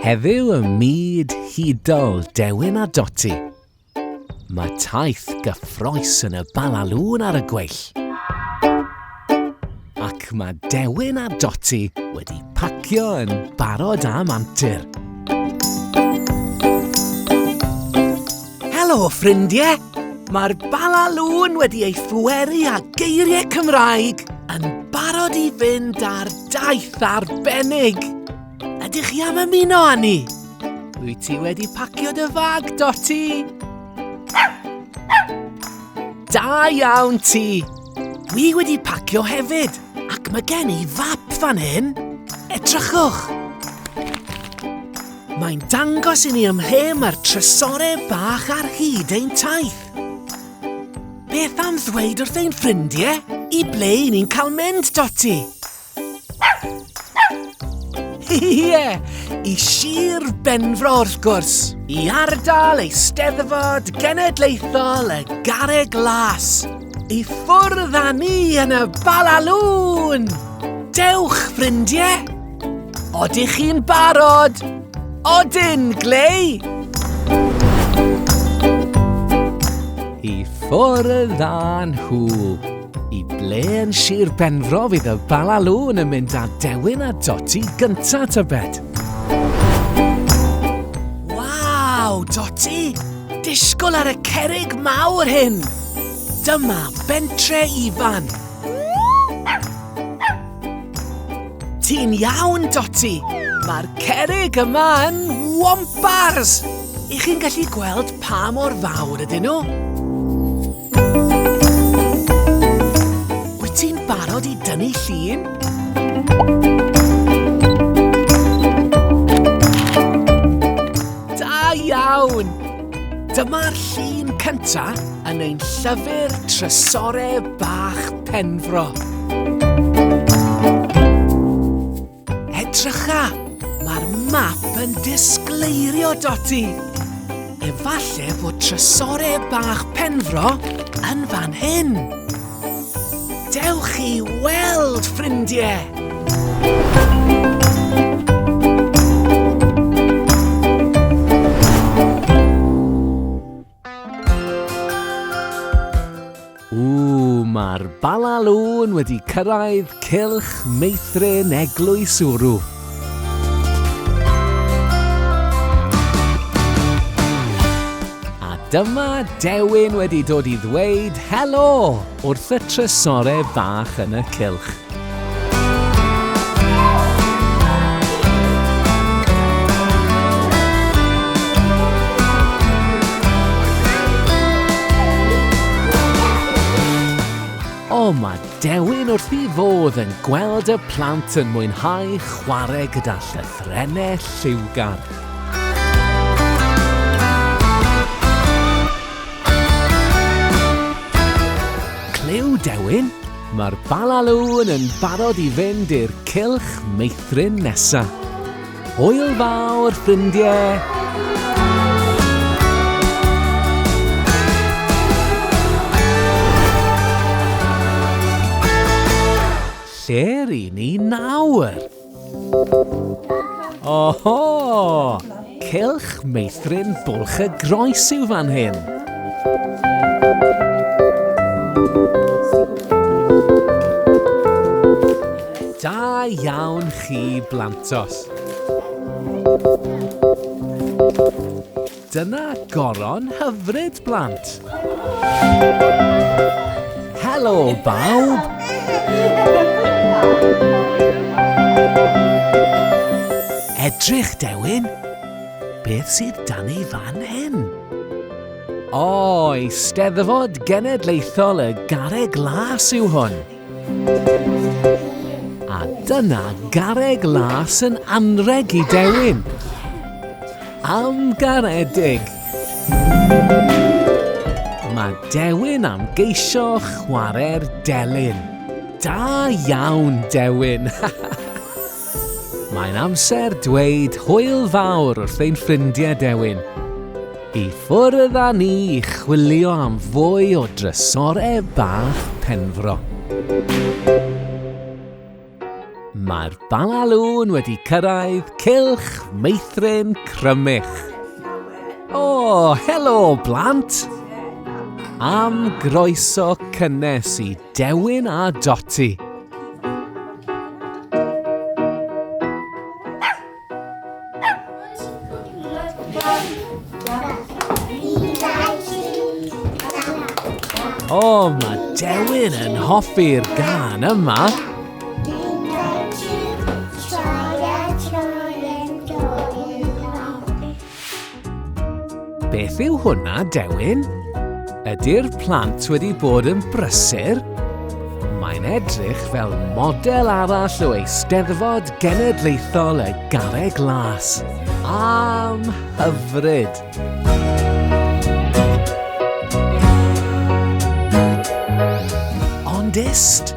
Heddiw ym myd hudol Dewin a Doti, mae taith gyffroes yn y balalŵn ar y gweill. Ac mae Dewin a Doti wedi pacio yn barod am antur. Helo, ffrindiau! Mae'r bala lŵn wedi ei phweru a geiriau Cymraeg yn barod i fynd ar daith arbennig. Ydych chi am ymuno â ni? Wyt ti wedi pacio dy fag, Doti? Da iawn ti! Dwi wedi pacio hefyd, ac mae gen i fap fan hyn. Edrychwch! Mae'n dangos i ni ym mhe mae'r trysorau bach ar hyd ein taith. Beth am ddweud wrth ein ffrindiau i ble i ni'n cael mynd, Dotty? Ie, i Sir Benfro wrth gwrs. I ardal Eisteddfod Genedlaethol y Garreg Las. I ffwrdd â ni yn y balalŵn! Dewch, ffrindiau! Odych chi'n barod? Odyn, Glei! I ffwrdd â nhw! I ble yn Sir Benfro fydd y Bala Lŵn yn mynd â dewin a doti gynta tybed? Waw, doti! Disgwyl ar y cerig mawr hyn! Dyma bentre Ifan! Ti'n iawn, Doti! Mae'r cerig yma yn wompars! I chi'n gallu gweld pa mor fawr ydyn nhw? Wyt ti'n barod i dynnu llun? Da iawn! Dyma'r llun cyntaf yn ein llyfr Trysorau Bach Penfro. Edrycha! Mae'r map yn disgleirio, Doti! Efallai bod trysore bach penfro yn fan hyn. Dewch i weld, ffrindiau! Ww, mae'r Bala Lôn wedi cyrraedd cylch meithrin eglwys Wrw. A dyma Dewin wedi dod i ddweud helo wrth y trysore fach yn y cylch. O, mae Dewin wrth i fod yn gweld y plant yn mwynhau chwarae gyda llythrennau lliwgar. Clyw, Dewin? Mae'r balaloon yn barod i fynd i'r cylch meithrin nesa. Hwyl fawr, ffrindiau! Lle ry'n ni nawr? Oho! Cylch meithrin bwlch y groes yw fan hyn. Da iawn chi, blantos. Dyna goron hyfryd, blant! Helo, bawb! Edrych, Dewin! Beth sydd dan ei fan hyn? O, Eisteddfod Genedlaethol y Garreg Las yw hwn. A dyna garreg las yn anrheg i dewin. Am garedig! Mae Dewin am geisio chwarae'r delyn. Da iawn, Dewin! Mae'n amser dweud hwyl fawr wrth ein ffrindiau dewin. I ffwrdd â ni i chwilio am fwy o drysorau bach Penfro. Mae'r Balalŵn wedi cyrraedd cylch meithrin Crymych. O, helo, blant! Am groeso cynnes i Dewin a Doti. O, oh, mae Dewin yn hoffi'r gan yma. Beth yw hwnna, Dewin? Ydy'r plant wedi bod yn brysur? Mae'n edrych fel model arall o Eisteddfod Genedlaethol y Garreg Las. Am hyfryd! Ond ist!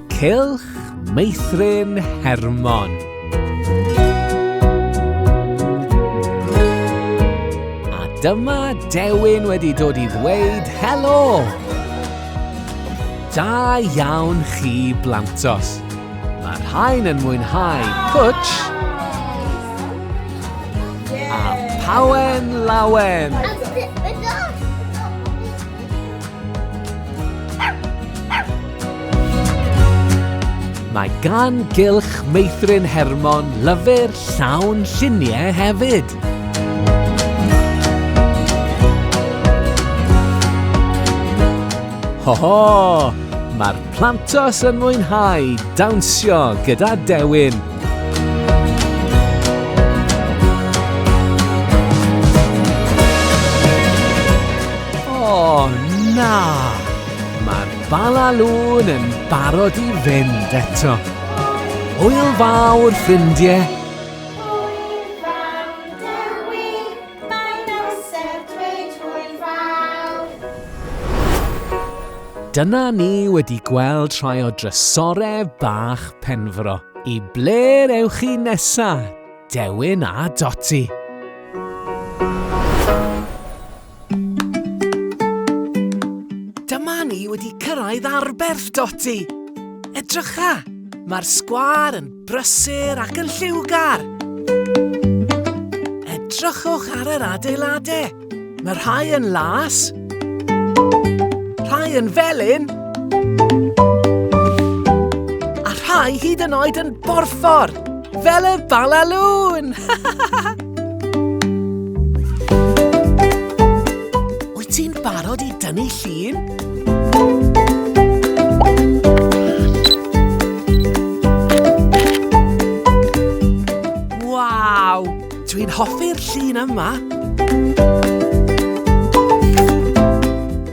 Cylch Meithrin Hermon. A dyma Dewin wedi dod i ddweud helo! Da iawn chi, Blantos. Mae rhain yn mwynhau pwtsh a pawen lawen. Mae gan gylch meithrin Hermon lyfr llawn lluniau hefyd. Ho ho! Mae'r Plantos yn mwynhau dawnsio gyda Dewin. Bala Lŵn yn barod i fynd eto. Hwyl fawr, ffrindiau! Dyna ni wedi gweld rhai o drysorau bach Penfro. I ble ewch chi nesa, Dewin a Doti? Dyma ni wedi cyrraedd Arberth, Doti! Edrycha! Mae'r sgwâr yn brysur ac yn lliwgar! Edrychwch ar yr adeiladau! Mae rhai yn las, rhai yn felyn, a rhai hyd yn oed yn borffor, fel y balalŵn! Wyt ti'n barod i dynnu llun? Dwi'n hoffi'r llun yma!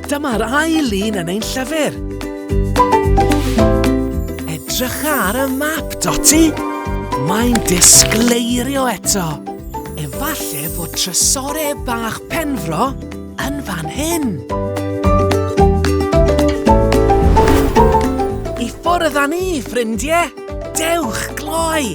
Dyma'r ail lun yn ein llyfr! Edrycha ar y map, Dotty! Mae'n disgleirio eto! Efalle fod trysore bach Penfro yn fan hyn! I ffwrdd â ni, ffrindie! Dewch gloi!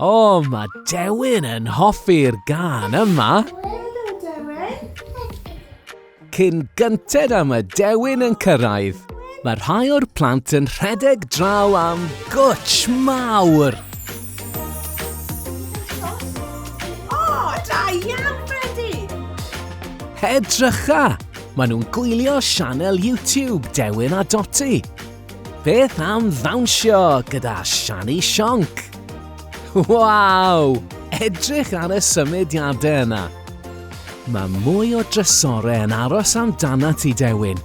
O, mae Dewin yn hoffi'r gan yma. Cyn gynted am y Dewin yn cyrraedd, mae rhai o'r plant yn rhedeg draw am gwtsh mawr. O, da iawn, Bredi! Hedrycha! Maen nhw'n gwylio sianel YouTube Dewin a Doti. Beth am ddawnsio gyda Shani Sionc? Waw! Edrych ar y symudiadau yna. Mae mwy o drysorau yn aros amdana ti, Dewin.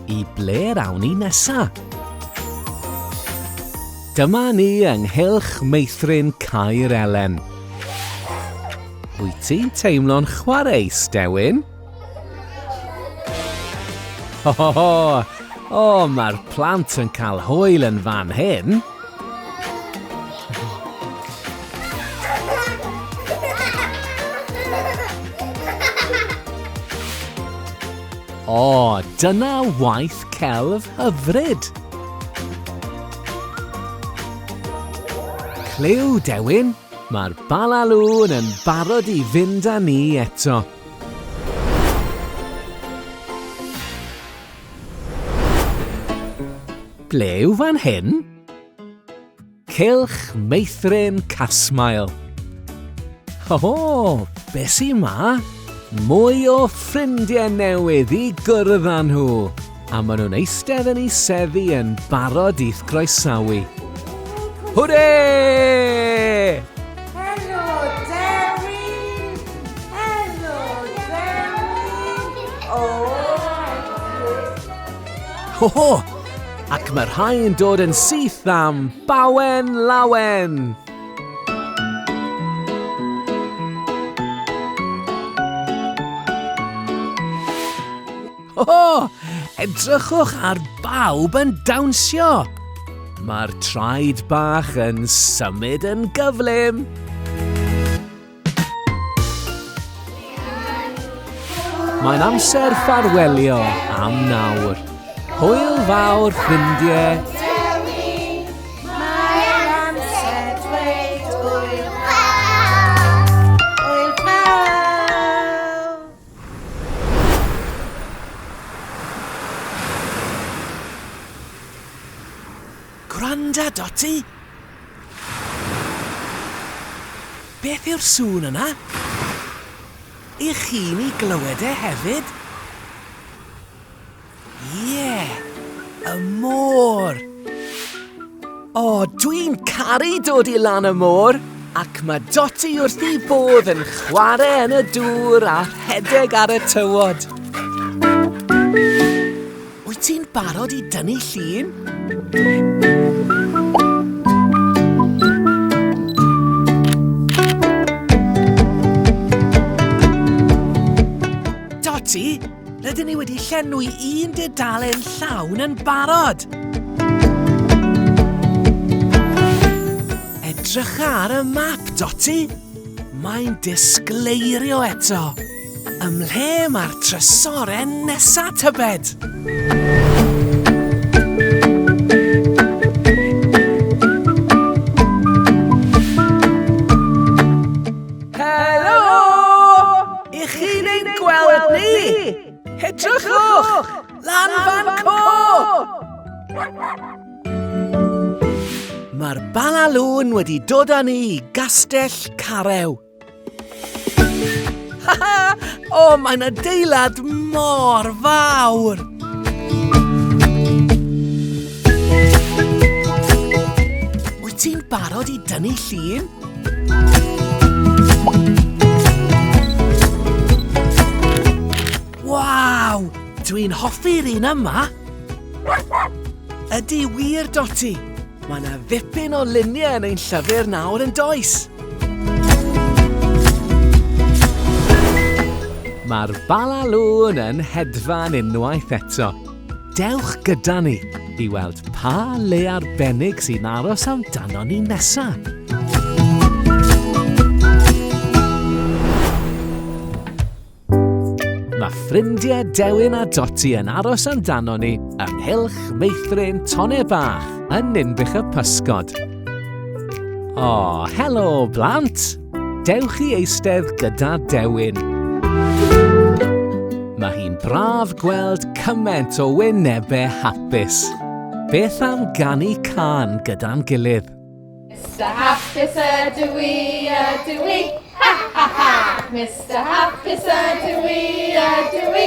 I ble rawn ni nesa? Dyma ni ynghylch meithrin Caer Elen. Wyt ti'n teimlo'n chwareus, Dewin? Ho ho ho! O, mae'r plant yn cael hwyl yn fan hyn. O, dyna waith celf hyfryd! Clyw, Dewin, mae'r balalŵn yn barod i fynd â ni eto. Ble yw fan hyn? Cylch meithrin Casmael. O, be sy 'ma? Mwy o ffrindiau newydd i gwrdd â nhw! a maen nhw'n eistedd yn ei seddi yn barod i'th groesawu. Hwre! Helo, Dewi! Helo, Dewi! O! Ho ho! Ac mae rhai yn dod yn syth am bawen lawen! O! Edrychwch ar bawb yn dawnsio! Mae'r traed bach yn symud yn gyflym! Mae'n amser ffarwelio am nawr. Hwyl fawr, ffrindiau! Gwranda, Dotty! Beth yw'r sŵn yna? Y'ch chi'n ei glywed e hefyd? Ie! Y môr! O, dwi'n caru dod i lan y môr, ac mae Dotty wrth ei bodd yn chwarae yn y dŵr a rhedeg ar y tywod. Wyt ti'n barod i dynnu llun? Dotty, Rydyn ni wedi llenwi un dudalen llawn yn barod! Edrycha ar y map, Dotty! Mae'n disgleirio eto! Ymhle mae'r trysoren nesa, tybed? I chi'n ein gweld ni, hedrychwch lan fan co! Mae'r balalŵn wedi dod â ni i gastell Carew. Ha ha! O, mae'n adeilad mor fawr! Wyt ti'n barod i dynnu llun? Waw! Dwi'n hoffi'r un yma! Ydy wir, Doti! Mae yna ddipyn o luniau yn ein llyfr nawr yn does! Mae'r balalŵn yn hedfan unwaith eto. Dewch gyda ni i weld pa le arbennig sy'n aros amdano ni nesaf! Mae ffrindiau Dewin a Doti yn aros amdano ni ynghylch meithrin tonne bach yn Ninbych y Pysgod. O, helo, blant! Dewch i eistedd gyda Dewin. Mae hi'n braf gweld cymaint o wynebau hapus. Beth am ganu can gyda'n gilydd? Mr Hapus ydw i, ydw i, ha ha ha! Mr Hapus ydw i, ydw i,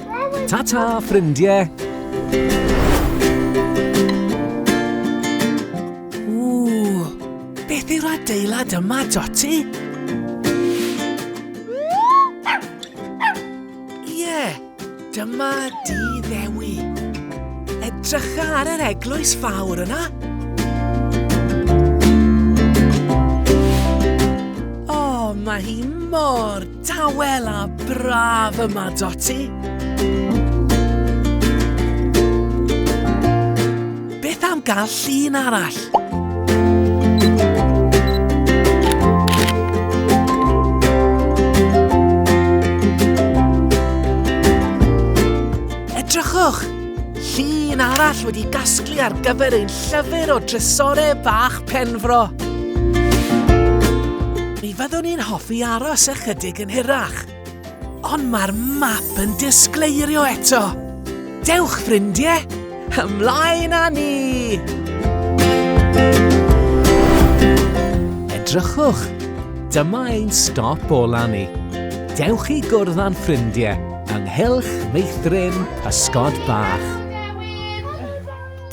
Ta-ta, ffrindiau! Ww, beth yw'r adeilad yma, Dotty? Ie, yeah, dyma di ddewi. Edrycha ar yr eglwys fawr yna. O, mae hi mor Dawel a braf yma, Dotty! Beth am gael llun arall? Llun arall wedi gasglu ar gyfer ein llyfr o drysorau bach Penfro. Mi fyddwn ni'n hoffi aros ychydig yn hirach. Ond mae'r map yn disgleirio eto. Dewch, ffrindiau! Ymlaen â ni! Edrychwch! Dyma ein stop ola ni. Dewch i gwrdd â'n ffrindiau. Ynghylch meithrin pysgod bach.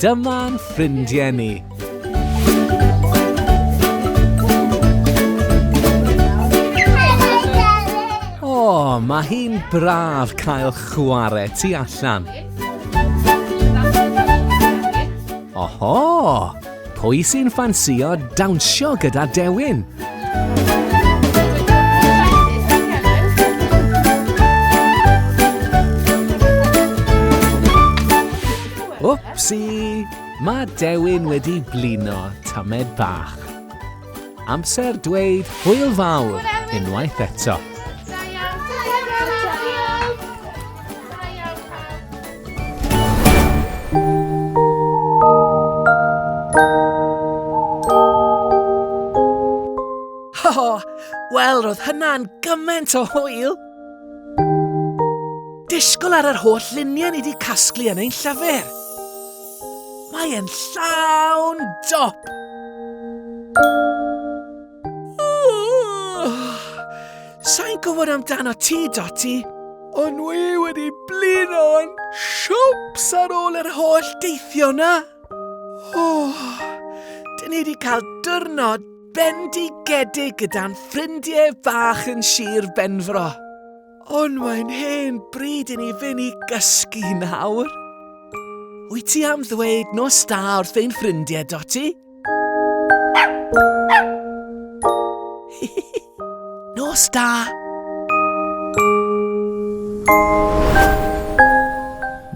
Dyma'n ffrindiau ni. O, mae hi'n braf cael chwarae tu allan. Oho! Pwy sy'n ffansïo dawnsio gyda Dewin? Wpsi! Mae Dewin wedi blino tamed bach. Amser dweud hwyl fawr unwaith eto. Oh, Wel, roedd hynna'n gymaint o hwyl! Disgwyl ar yr holl luniau ni wedi casglu yn ein llyfr. Mae e'n llawn dop! Sa'n gwybod amdano ti, Dotty. O'n i wedi blino'n siwps ar ôl yr holl deithio na. Oh, dyn ni wedi cael dyrnod bendigedig gyda'n ffrindiau bach yn Sir Benfro. Ond mae'n hen bryd i ni fynd i gysgu nawr. Wyt ti am ddweud nos da wrth ein ffrindiau, Dotty? nos da!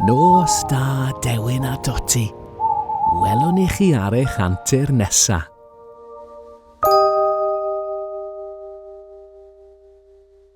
Nos da, Dewin a Dotty. Welwn i chi ar eich antur nesaf.